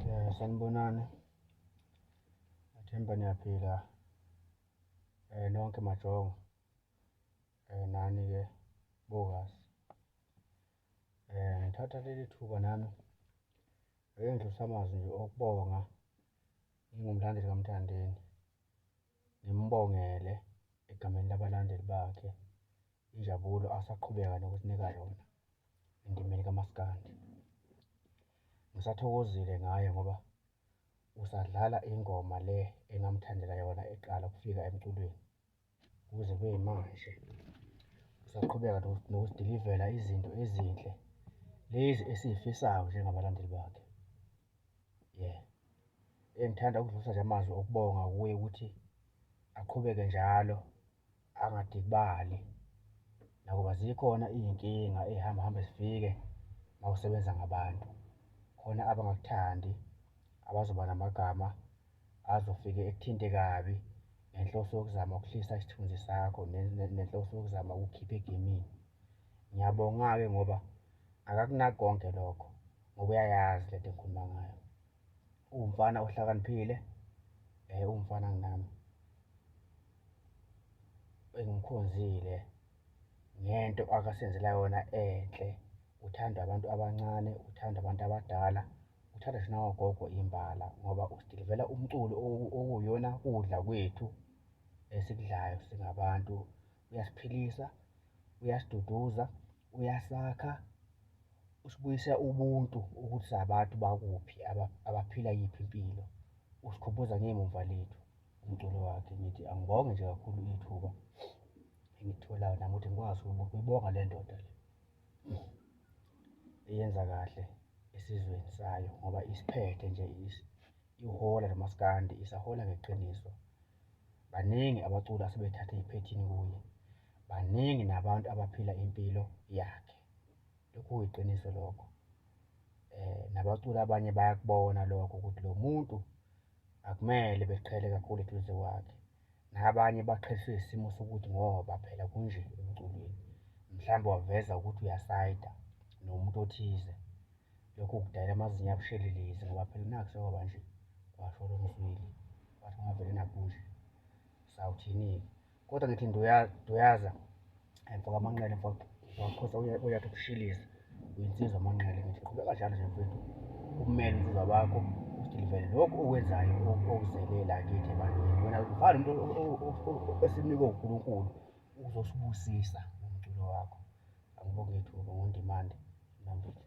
Eh, sanibonani athemba niyaphila eh nonke majongo eh nani ke bokazi eh ngithatha leli thuba nami ngeke ngidlulise amazwi nje okubonga ngingumlandeli kaMthandeni Ngimbongele egameni labalandeli bakhe injabulo asaqhubeka nokusinika yona endimeni kamaskandi. Ngisathokozile ngaye ngoba usadlala ingoma le engamthandela yona eqala ukufika emculweni kuze kube yimanje. Usaqhubeka nokusidilivela izinto ezinhle lezi esizifisayo njengabalandeli bakhe. Yeah. Eh, ngithanda ukudlulisa nje amazwi okubonga kuye ukuthi aqhubeke njalo angadikibali nakuba zikhona iy'nkinga ey'hamba hambe zifike uma usebenza ngabantu khona abangakuthandi abazoba namagama azofike ekuthinte kabi ngenhloso yokuzama ukuhlisa isithunzi sakho nenhloso yokuzama ukukhipha egemini ngiyabonga-ke ngoba akakunaki konke lokho ngoba uyayazi lento engikhuluma ngayo uwumfana ohlakaniphile eh uwumfana nginami engimkhonzile ngento akasenzela yona enhle uthanda abantu abancane uthanda abantu abadala uthanda thina wagogo imbala ngoba usidilivela umculo okuyona kudla kwethu esikudlayo singabantu uyasiphilisa uyasiduduza Uyasakha, usibuyisa ubuntu ukuthi sabantu bakuphi, abaphila yiphi impilo. Usikhumbuza ngemumva lethu umculo wakhe. Ngithi angibonge nje kakhulu ithuba engitholayo nami ukuthi ngikwazi ukuyibonga le ndoda le eyenza kahle esizweni sayo ngoba isiphethe nje ihora nomaskandi isahola ngeqiniso Baningi abaculi asebethathe iphethini kuye. Baningi nabantu abaphila impilo yakhe. Lokhu kuyiqiniso lokho. Eh nabaculi abanye bayakubona lokho ukuthi lo muntu akumele beqhele kakhulu eduze kwakhe. Nabanye baqheliswe isimo sokuthi ngoba phela kunje emculweni. Mhlawumbe waveza ukuthi uyasayida nomuntu othize. Lokhu kudala amazinyo abushelelezi ngoba phela nakho sekwaba nje kwasho lo mzwili wathi ungavele nakunje sawuthini-ke kodwa ngithi nduyaza mfoka amanqele mfoka wakhosa uyathi ukushiliza uyinsizwa amanqele ngithi qhubeka njalo nje mfethu umele insizwa bakho usilivele lokhu okwenzayo okuzelela kithi ebantwini wena ufana umuntu esinikwe unkulunkulu uzosibusisa umculo wakho Angibonge thuba ngondimande nami futhi.